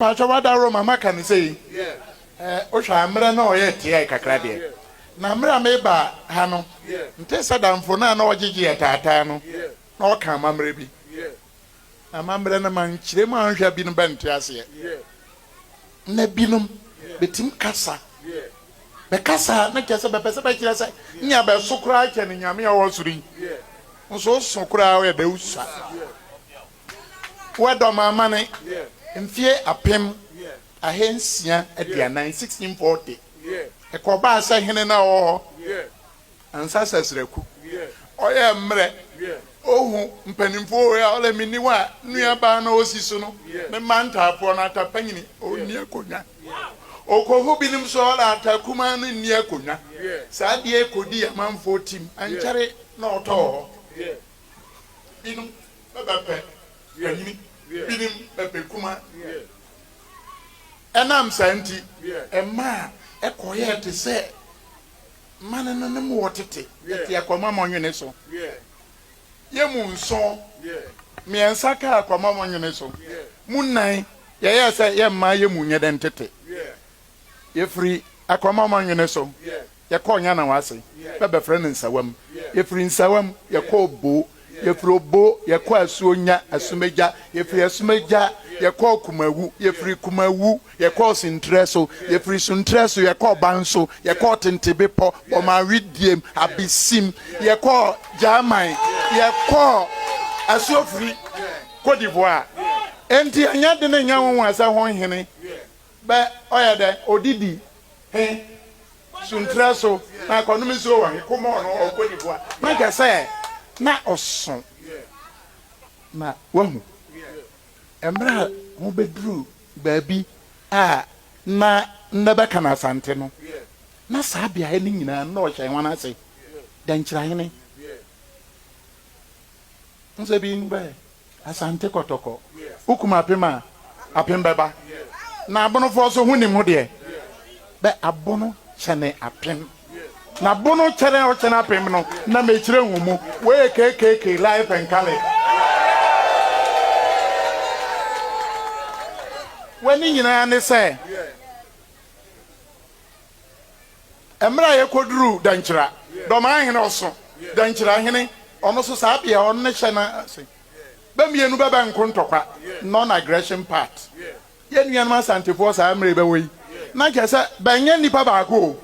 Mpakyɛw ada Roma maka no sei eh wo hwɛ a mmerɛ na ɔyɛ teae kakra deɛ na mmerɛ a meba ha no nte sɛ damfo no a na ɔgyegye yɛ taataa no na ɔka amammerɛ bi na amammerɛ no ma nkyerɛ mu a nhwɛ a binom bɛ nte aseɛ na binom bɛ tim kasa bɛ kasa na kyɛ sɛ bɛ pɛ sɛ bɛ kyerɛ sɛ nea bɛ so koraa kyɛ ne nyame a ɔwɔ soro yi nso so koraa ɔyɛ dɛ usa. Wɔ dɔm amane mfeɛ apem ahansia aduanan, 1640, ɛkɔbaa sɛ hene no a ɔwɔ hɔ ansa sɛ sraku. Ɔyɛ mmerɛ ɔhu mpanimfoɔ wei a ɔlɛ me ni wo a nuabaa no ɔsi so no me mma ntaafoɔ no ata panyini ɔnni akonnwa. Ɔkɔhu binom nso ɔlɛ ata kumaa no nni akonnwa. Saa deɛ kɔdii amanfoɔ tim ankyɛre na ɔtɔɔ hɔ binom. bɛbɛ pɛ na nyini binom bɛbɛ kuma ɛnam saa nti ɛmaa ɛkɔyɛɛ te sɛ mane no nom wɔ tete ɛte akwamma mɔnwene so yɛ mu nson mmiɛnsa kaa akwamma mɔnwene so mu nnan yɛyɛɛ sɛ yɛmmaa yɛ mu nyɛ dɛn tete Yɛfiri Akorɔmamma Nwene so, yɛkɔɔ Nyanawa ase, bɛbɛfrɛ no Nsawam. Yɛfiri Nsawam, yɛkɔɔ Obo. Yɛfiri Obo, yɛkɔɔ Asuonya, Asumagya. Yɛfiri Asumagya, yɛkɔɔ Kumawu. Yɛfiri Kumawu, yɛkɔɔ Suntrɛ so. Yɛfiri Suntrɛ so, yɛkɔɔ Banso. Yɛkɔɔ Tentebepɔ, Bɔmawediem, Abesim. Yɛkɔɔ Gyaaman. Yɛkɔɔ Asuofiri, Cote d'Ivoire. Enti ɛnyɛ dene nyɛ nwonwa sɛ ho nhene Bɛ ɔyɛ dɛ odidi he sunterɛ so na akɔnom nsuo wɔ he komɔɔ no ɔɔkɔ ne bua. Na kyerɛ sɛ na ɔso. Na wahu mmerɛ a wɔbɛduru baabi a na nnɛ bɛka no Asante no, na saa beaeɛ no nyinaa na ɔhyɛ he wɔn ase dɛ nkyerɛhene. Nsɛm bi no bɛɛ. Asante Kɔtɔkɔ, wokum apem a, apem bɛba, na abonofoɔ so honnim ho deɛ, bɛ abono kyɛne apem, na bono kyɛne a wokyɛne apem no na mekyerɛ nhu mu, wei yɛ KKK life and colour. W'ani nyinaa ne sɛ. Mmerɛ a yɛkɔduruu Dankyira, Dɔmaa hene ɔso, Dankyira hene ɔno so saa bea ɔno ne hyɛ no ase. Bɛ mmienu bɛ bɛ nko ntɔkwa, non-aggression pact. Yɛ nuanom Asantefoɔ saa mmerɛ bɛwɔ yi, na nkyɛ sɛ bɛ nyɛ nnipa baako o.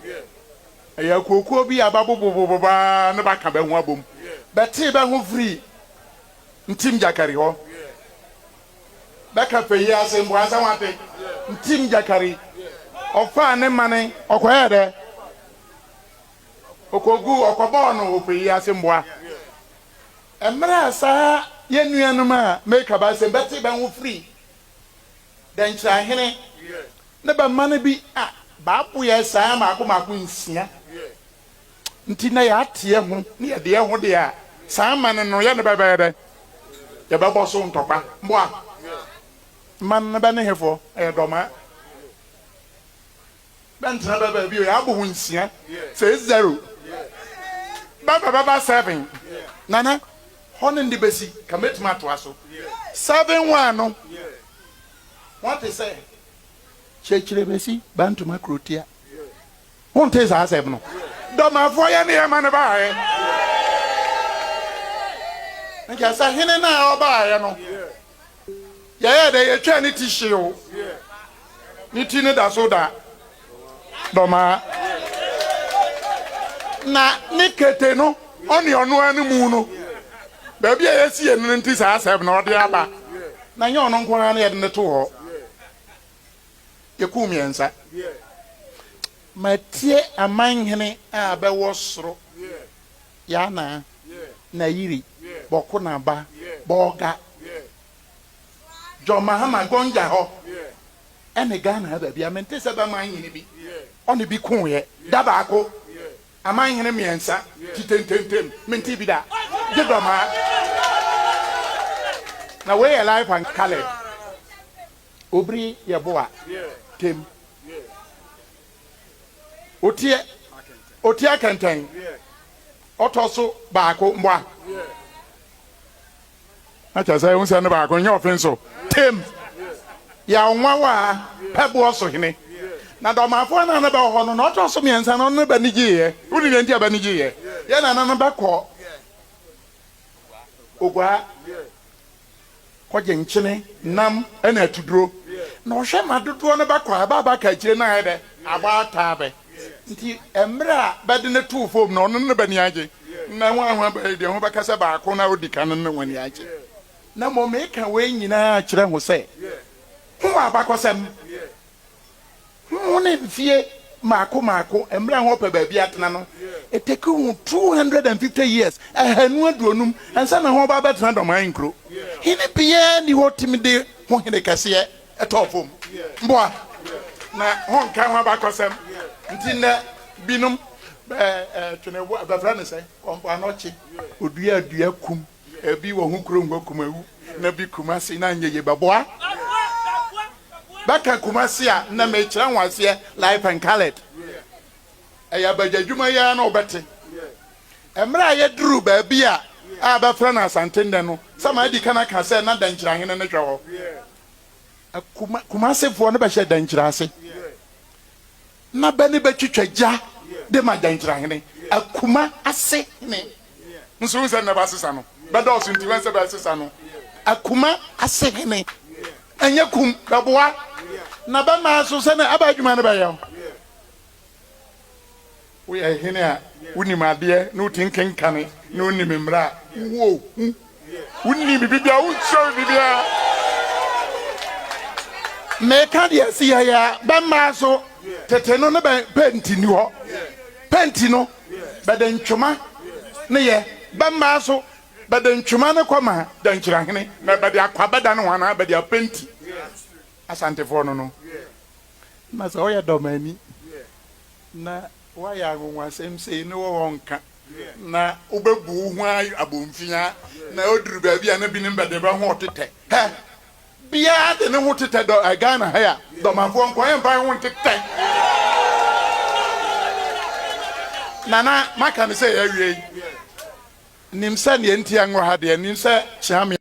Ɛyɛ akuokuo bi a bɛabobobobobo ara na bɛaka bɛ ho abom. Bɛtee bɛ ho firii Ntim Gyakari hɔ. Bɛka pɛ yi ase mpo ansa wɔate. Ntim Gyakari, ɔfaa ne mane ɔkɔyɛɛ dɛ? Ɔkɔguu ɔkɔbɔɔ no wɔ pɛ yi ase mboa. Mmerɛ a saa yɛn nuanom a meeka bɛ asem bɛte bɛ ho firi Dɛnkyerɛhene ne bɛ mane bi a, bɛaboɛ saa maako maako nsia Nti na yɛate yɛn ho na yɛde yɛn ho deɛ a, saa amanne no yɛne bɛ bɛyɛ dɛn? Yɛbɛbɔ so ntɔkwa. Moa mma no bɛne hefoɔ? Ɛyɛ dɔmaa. Bɛntena bɛ baa bio. Yɛabɔ ho nsia. Sɛ zero. Bɛ bɛ bɛba seven. Nana, hɔ ne nde bɛsi, ka mɛtumi atoa so. Seven one no, moate sɛ. Kyerɛkyerɛ bɛsi, bantoma kurotia. Wontee saa asɛm no? Dɔmafɔɔ yɛ ne yɛma no baeɛ. Nka sɛ hene no a ɔbaeɛ no, yɛyɛɛ dɛ yɛtwaa ne ti hyee o. Ne ti no da so da Dɔmaa. Na ne kete no, ɔne ɔno ara no mu no, baabi a yɛasie no no nti saa asɛm no, ɔde aba. Na ɛnyɛ ɔno nko ara na yɛde no to hɔ. Yɛkuu mmiɛnsa. Matie amanhene a bɛwɔ soro, Yana, Nayiri, Bɔkonaba, Bolga, John Mahama, Gonja hɔ, ɛne Ghana ha baabiara. Mente sɛ bɛmanhene bi, ɔne bi koeɛ, da baako. Amanhene mmiɛnsa te tententem, mentee bi da, gye dɔm ara. Na wei yɛ live and colored. Obiri yɛ bo a tem oteɛ oteɛ kɛntɛn ɔtɔ so baako mboa na kyɛ sɛ nsɛm no baako nyɛ ɔfen so tem yɛ ɔnwawa a pɛ boɔ so hene na dɔmafoɔ na ne bɛwɔ hɔ no na ɔtɔ so mmiɛnsa no ne ba ne gyeeɛ wone deɛ nti a ba ne gyeeɛ yɛ nana no bɛkɔ Oguaa kɔgye nkyene, nam na atuduro na ɔhwɛ ma dodoɔ no bɛkɔ a ɛba a bɛaka akyire no ayɛ dɛ abɔ ataa bɛ nti mmerɛ a bɛde no too fam no ɔno ne bani agye na wɔn a ho abae deɛ ho bɛka sɛ baako no a ɔdi kan no ne wɔn ani agye na mmom meka wei nyinaa akyerɛ ho sɛ ho abakɔsɛm Ho ne mfeɛ mmaako mmaako mmerɛ a wɔpɛ baabi atena no, ɛtake ho two hundred and fifty years, ahanu aduonum, ansa na wɔba abɛtena dɔm ahe nkuro. Hene biara nni hɔ tumi de ho hene kɛseɛ tɔɔ fam. Mboa na wɔnka ho abakɔsɛm nti nnɛ binom bɛ twene boa, bɛfrɛ no sɛ, kɔ mpoano kye, ɔdua dua kum. Ebi wɔ ho kurom hɔ Kumawu na bi Kumase na anyɛ yie bɛboa bɛka Kumase a na mekyerɛ ho aseɛ live and coloured ɛyɛ abagya adwuma yi ara na wobɛte mmerɛ a yɛduru baabi a a bɛfrɛ no Asante nnɛ no sɛ madi kan aka sɛ na Dankyira hene no hwɛ hɔ Kuma Kumasefoɔ no bɛhyɛ Dankyira ase Na bɛ ne bɛ twitwa gya de ma Gyankyerɛ hene, Akuma ase hene nso hu sɛ nnɛ bɛasesa no, bɛdɔɔso nti wɛn sɛ bɛsesa no, Akuma ase hene ɛnyɛ kum bɛboa na bɛ mma so sɛnea ɛbɛ adwuma no bɛyɛ o. Woyɛ hene a wonim adeɛ na wotim kenkane na wonim mmara a wowɔ hu. Wonni biribi biara, wonkyerɛ me biribi biara. Meka deɛ ɛsi yɛ yɛ bɛmmaa so tete no ne bɛn penti ni hɔ. Penti no bɛde ntwoma ne yɛ bɛmmaa so bɛde ntwoma ne kɔma dankyirahene na bɛde akɔ abɛda ne ho anaa bɛde apenti Asantefoɔ no no. Na sɛ woyɛ dɔmani na. Woayɛ anwonwasɛm sei ne wɔwɔ nka, na wobɛbu wo ho ara abomfiaa, na ɛduru baabi a na binom bɛde bɛ ho retetɛ. Hɛ! Biara de ne ho tetɛ dɔ ɛ Ghana ha yi a, Dɔmafoɔ nko, yɛmfa yɛn ho ntetɛ. Nana, maka no sɛ yɛawie yi, nim sɛ deɛ nti a nwɔ ha deɛ, nim sɛ Kyeame.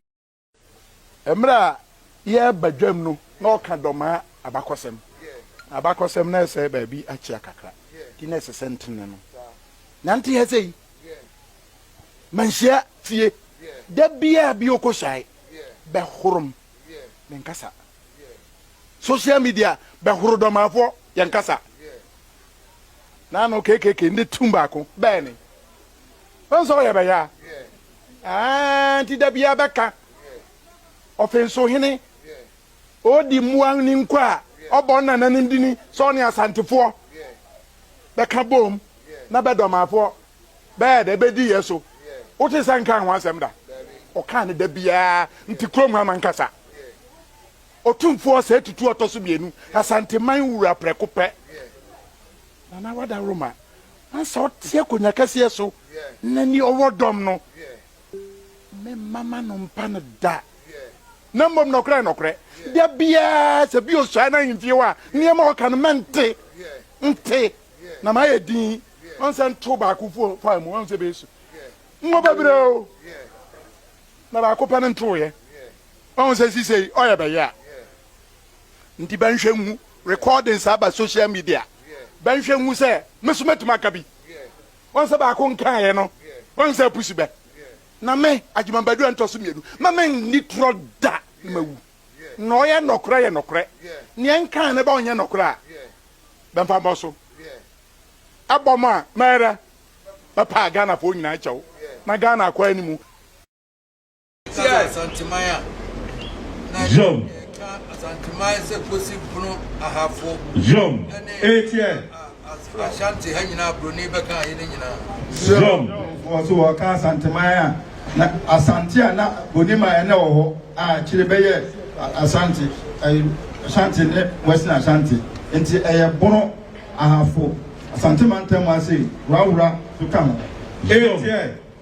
Mmerɛ a yɛreba dwam no, na ɔka dɔmaa abakɔsɛm. Abakɔsɛm no ɛsɛe baabi akyea kakra, nti na ɛsɛ sɛ ntene no. Nante ha sei, manhyia fie. Da biara bi ɔkɔhyae bɛhorom ne nkasa. Social media bɛhoro dɔmaafoɔ yɛn kasa. Na ano KKK nde tum baako bɛɛ ne. Wohu sɛ ɔyɛ bɛyaa? Aah, nti da biara bɛka Ɔfenso hene, ɔɔdi mmoa ne nkwa a, ɔbɔ ne nananom dini sɛ ɔne Asantefoɔ bɛka bom na Bɛdɔmaafoɔ bɛyɛ dɛ bɛdi yɛ so. Wote sɛ nkaa ho asɛm da? Ɔkaa no da biara, nti kurom ha ma nkasa. Otumfoɔ ɔsɛe tutu ɔtɔ so mmienu, Asanteman wura prɛko pɛ. Na na wadaworo ma ansa ɔte akonnwa kɛseɛ so, na nea ɔwɔ dɔm no, memma m'ano mpa no da. Na mmom nɔkorɛ nɔkorɛ, da biara sɛ bi ɔsua n'ahemfie hɔ a, nneɛma a ɔka no mɛnte, nte, na mayɛ dinn, ɔn sɛ nto baako faa mu, ɔn sɛ bɛsu ngo bebree o, na baako pɛ no ntoeɛ, ɔn sɛ sisei ɔyɛ bɛyɛ a. Nti bɛnhwɛ nhu, recordings aba social media, bɛnhwɛ nhu sɛ me so mɛtumi aka bi. Wahu sɛ baako nkaeɛ no, wahu sɛ apusi bɛ. Na me, Agyemang Badu Antɔso mmienu, mma menni torɔ da na mawu. Na ɔyɛ nnɔkorɛ yɛ nnɔkorɛ. Neɛ nkaeɛ no bɛ ɔnyɛ nnɔkorɛ a, bɛmfa mmɔ so. Ɛbɔ mo a, mɛyɛ dɛ? Mɛpa Ghanafoɔ nyinaa kyɛw na Ghana akɔ anim. Tia Asanteman a na yɛka Asanteman sɛ Kosi Bono Ahafo ne Ashanti ha nyinaa Buroni bɛka ha yi no nyinaa. So wɔka Asanteman a na Asante a na Boniman na wɔ hɔ a akyire bɛyɛ Asante, Ashanti ne Western Ashanti. Nti ɛyɛ Bono Ahafo, Asante Mantam ase Wura Wura nso ka ho. Tia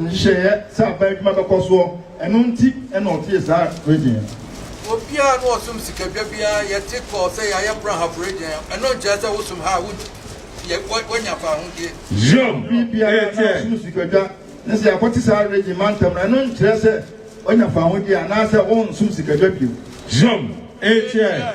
nhyehyɛeɛ sɛ aban adwuma bɛkɔ soɔ, ɛno nti na ɔtee saa regyen no. Obiara na ɔsom sika dwa biara yɛ te kɔɔ sɛ yɛayɛ prahafo regyen a, ɛno nkyerɛ sɛ wosom ha a wogye yɛ woanya fawohodie. Hiob Obi biara na ɛteɛ. ɔsom sika dwa ne sɛ yɛakɔte saa regyen mantam no, ɛno nkyerɛ sɛ woanya fawohodie anaasɛ wonsom sika dwa bio. Hiob ɛteɛ.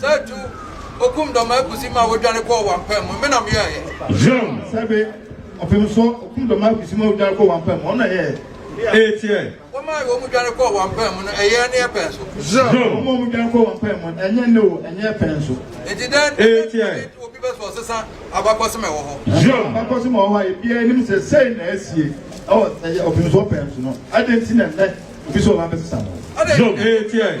Sɛ tu okum dɔm akusi ma wodware kɔɔ wampam mu, me na meyɔɛ yɛ. Zion sɛ be ɔpem so okum dɔm akusi ma wodware kɔɔ wampam mu, ɔno na ɛyɛɛ ee teɛ. Womaa wɔn dware kɔɔ wampam mu no, ɛyɛɛ ne ɛpɛ nso. Zion womaa wɔn dware kɔɔ wampam mu, ɛnyɛ ne o, ɛnyɛ ɛpɛ nso. Enti dɛn nti na ɛtu obi bɛ so ɔsesa abakɔsem a ɛwɔ hɔ? Zion abakɔsem a ɛwɔ hɔ a ebiara nim sɛ sei na asie ɛwɔ ɛyɛ ɔpem so ɔpɛ nso no, adɛn nti na nnɛ obi sɛ ɔba bɛsesa no? Zion ee teɛ.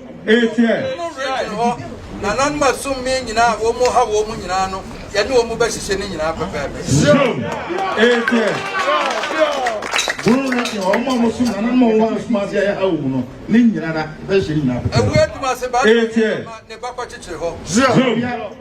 Israel hɔ nananom a sum mee nyinaa a wɔhaw wɔn nyinaa no, yɛne wɔn bɛhyehyɛ ne nyinaa pɛpɛɛpɛ. Ɛwɔ adwuma ase baa ne bakɔ kyekyere hɔ.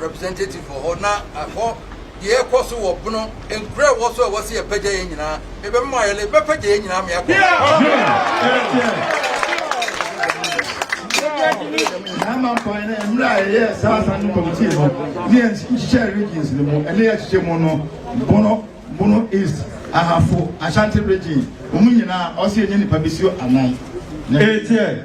representative wɔ hɔ na ɛhɔ deɛ ɛkɔ so wɔ bono nkura ɛwɔ so a ɛwɔ sɛ yɛpɛgya yɛn nyinaa ɛbɛma mo ayɛlɛ ɛbɛpɛgya yɛn nyinaa ma yɛakɔ Nama kwan na mmerɛ a yɛyɛ saa asa no kɔmitie no ne yɛhyehyɛ regions no mu ɛne yɛhyehyɛ mu no bono bono east ahafo ashanti region wɔn nyinaa ɔsɛ yɛnyɛ nipa bɛsio anan ɛtiɛ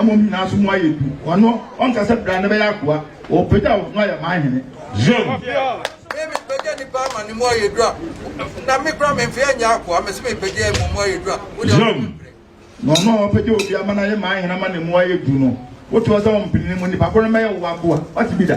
Mmom nyinaa nso mu ayɛ du. Ɔno, ɔnka sɛ bra na bɛyɛ akoa. Ɔbɛpagya wo na wayɛ m'ahene. Yom. Me, mepagya nnipa ama ne mu ayɛ du a, na me koraa memfee anyɛ akoa. Mese mepagya yɛn mmom mu ayɛ du a, wo deɛ Yom. ɔmpene. Na ɔno a ɔbɛpagya obi ama no ayɛ m'ahene ama ne mu ayɛ du no, wote hɔ sɛ ɔmpene ne mu, nnipa ko no mɛyɛ wo w'akoa. Woate bi da?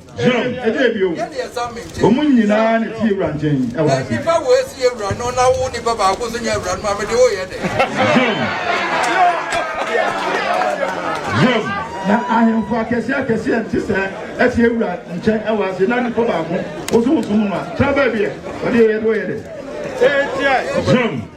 John, ɛdeɛ bio, wɔn nyinaa na tie wura nkyɛn ɛwɔ ase. Nipa wo esi yɛ wura no na wo nipa baako so nyɛ wura no ma mede woyɛ dɛ. John, na ahemfo akɛseɛ akɛseɛ nte sɛ ɛtie wura nkyɛn ɛwɔ ase na nipa baako woso woso mu no a tra baabi ɛ wɔde yɛ de woyɛ dɛ. John.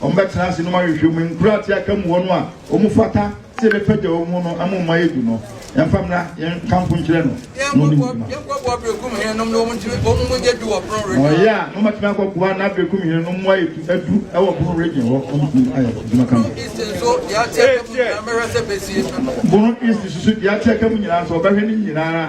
Wɔbɛtena ase na wɔahwehwɛ mu nkuraa te aka mu hɔ no a wɔfata sɛ yɛbɛpagya wɔn mu no ama wɔn ayɛ du no. Yɛmfa mmra yɛnkamfo nkyerɛ no na ɔne wo dwuma. Yɛnkɔboa Berekum henenom na wɔn mu nyɛ du wɔ Pono Region. Wɔyɛ a, na wɔatumi akɔboa na Berekum henenom mu ayɛ du wɔ Pono Region hɔ. Wɔtumi ayɛ adwuma kama. Bono East nso deɛ ate aka mu nyinaa mɛhwɛ sɛ bɛsie ano. Bono East nso deɛ ate aka mu nyinaa nso wɔbɛhwɛ ne nyinaa.